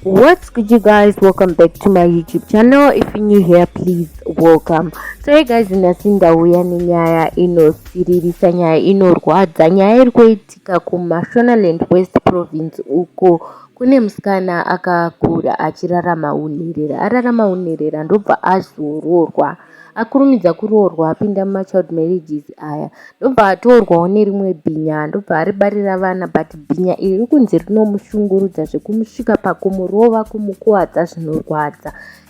what's good you guys welcome back to my youtube channel if you're new here please welcome so hey guys nhasi ndauya nenyaya inosiririsa nyaya inorwadza nyaya iri kuitika kumashonaland west province uko kune musikana akakura achirarama unherera ararama unherera ndobva azoroorwa ah, akurumidza kuroorwa apinda mumachild marriages aya ndobva atorwawo nerimwe bhinya ndobva aribarira vana but bhinya iri rikunzi rinomushungurudza zvekumusvika pakumurova kumukuvadza zvinorwadza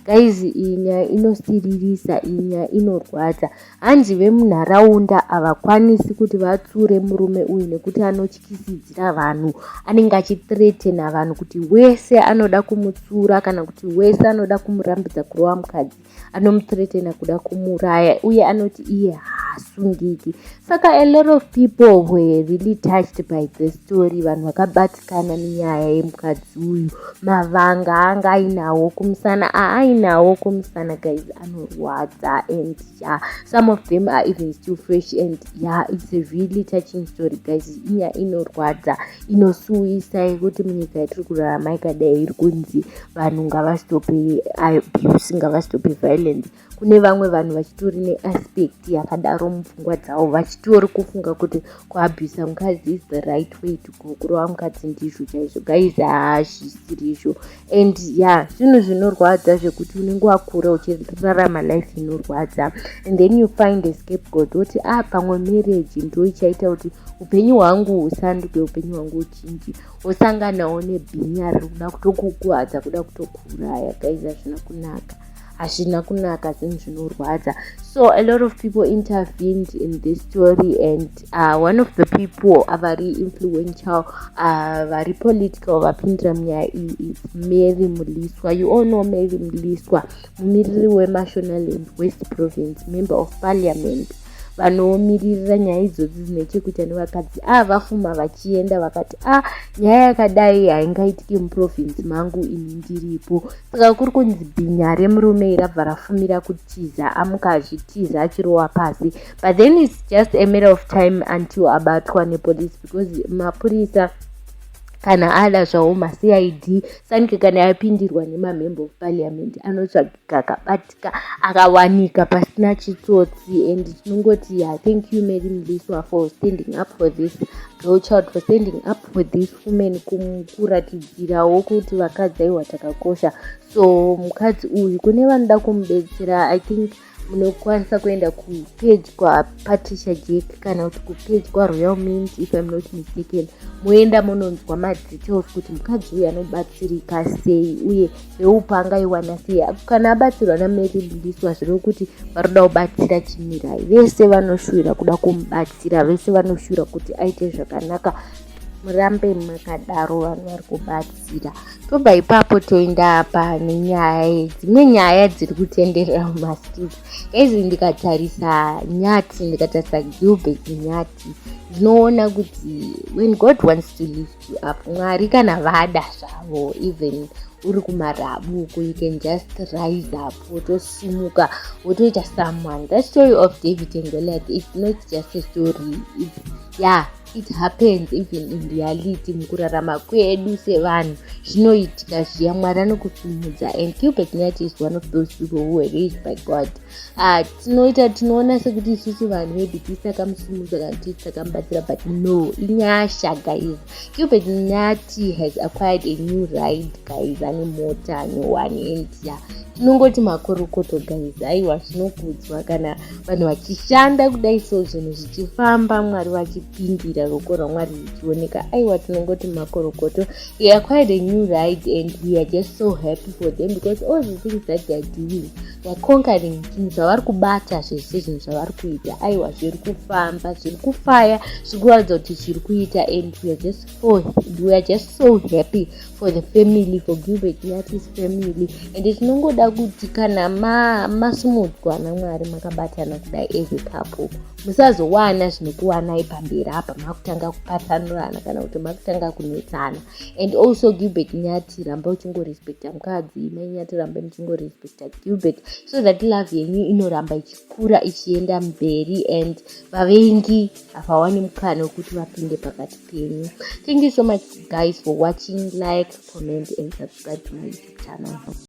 guys iyi nyaya inosiririsa iyi nyaya inorwadza hanzi vemunharaunda havakwanisi kuti vatsure murume uyu nekuti anotyisidzira vanhu anenge achitretena vanhu kuti wese anoda kumutsura kana kuti wese anoda kumurambidza kurova mukadzi anomuthreatena kuda kumuraya uye anoti iye haasungiki saka a lot of people were really touched by the story vanhu vakabatikana nenyaya yemukadzi uyu mavanga anga ainawo kumusana aainawo kumusana guys anorwadza and ya yeah, some of them are even still fresh and ya yeah, it's a really touching story guys inyaya inorwadza inosuwisa yekuti munyika yatiri kurarama ikadai iri kunzi vanhu ngavasitope abuse ngavasitope violence kune vamwe vanhu vachitori neaspect yakadaro mupfungwa dzavo vachitori kufunga kuti kuabusa mukadzi is the right way to go kurova mukadzi ndizvo chaizvo guys haazvisiri izvo and yeah zvinhu zvinorwadza zvekuti unenge wakura uchirarama life inorwadza and then you find a scapegoat woti a ah, pamwe marriage ndo ichaita kuti upenyu hwangu husanduke upenyu hwangu uchinji wosanganawo nebhinya riri kuda kutokukuhadza kuda kutokuuraya gaiza zvina kunaka hazvina kunaka zvinhu zvinorwadza so a lot of people intervened in this story and uh, one of the people avari influential uh, vari political vapindira munyaya iyi is mary muliswa you all know mary muliswa mumiriri wemashonalland west province member of parliament vanoomiririra nyaya idzodzi dzine chekuita nevakadzi a ah, vafuma vachienda vakati a ah, nyaya yakadai haingaitike muprovinsi mangu ini ndiripo saka kuri kunzi bhinya remurume irabva rafumira kutiza amuka achitiza achirowa pasi but then its just a matter of time until abatwa nepolice because mapurisa kana ada zvawo macid sanike kana yapindirwa nemamember of parliament anotsvaga kakabatika akawanika pasina chitsotsi and tinongoti yeah, thank you mary mliswa for standing up for this girl child for standing up for this woman kuratidzirawo kuti vakadzi aiwa takakosha so mukadzi uyu kune vanoda kumubetsera i think munokwanisa kuenda kupage kwapatricia jack kana kuti kupage kwaroyal mint if im not mistaken moenda mononzwa madetails kuti mukadzi uyu anobatsirika sei uye seupa angaiwana sei apo kana abatsirwa namary bundiswa zviri kuti vari kuda kubatsira chimirai vese vanoshuvira kuda kumubatsira vese vanoshuvira kuti aite zvakanaka murambe makadaro vanhu vari kubatsira tobva ipapo toenda apa nenyaya dzimwe nyaya dziri kutenderera mumastreet gaizi ndikatarisa nyati ndikatarisa gilbert nyati ndinoona kuti when god wants to live mwari kana vada zvavo even uri kumarabu uko you can just rise up wotosimuka wotoita someone that story of david and goliath is not just a story it's, yeah it happens even in reality mukurarama kwedu sevanhu zvinoitika zviya mwari anokusimudza and gilbert nat is one of those people who were raised by god ah, tinoita tinoona sekuti isusu vanhu maybe tisakamusimudza kana tii takamubatsira but no inyasha guys cupid nati has acquired a new ride guys ane mota ane one and ya tinongoti makorokoto guys aiwa zvinokudzwa kana vanhu vachishanda kudai so zvinhu zvichifamba mwari vachipindira roko ramwari richioneka aiwa tinongoti makorokoto he acquired a new ride and we are just so happy for them because all the things that theyare doing They're conquering zvinhu zvavari kubata zvese zvinhu zvavari kuita aiwa zviri kufamba zviri kufaya zviri kuratidza kuti zviri kuita and weare just so weare just so happy for the family for gilbert natis family and tinongoda kuti kana masumudzwa ma namwari makabatana kudai as a couple musazowana zvinokuwanai pamberi apa makutanga kupatsanurana kana kuti makutanga kunetsana and also gilbert nyati ramba uchingorespecta mukadzi mai nyati rambai muchingorespecta gilbert so that love yenyu inoramba ichikura ichienda mberi and vavengi havawani mukana wekuti vapinde pakati penyu thank you so much guys for watching like comment and subscribe to my youtube channel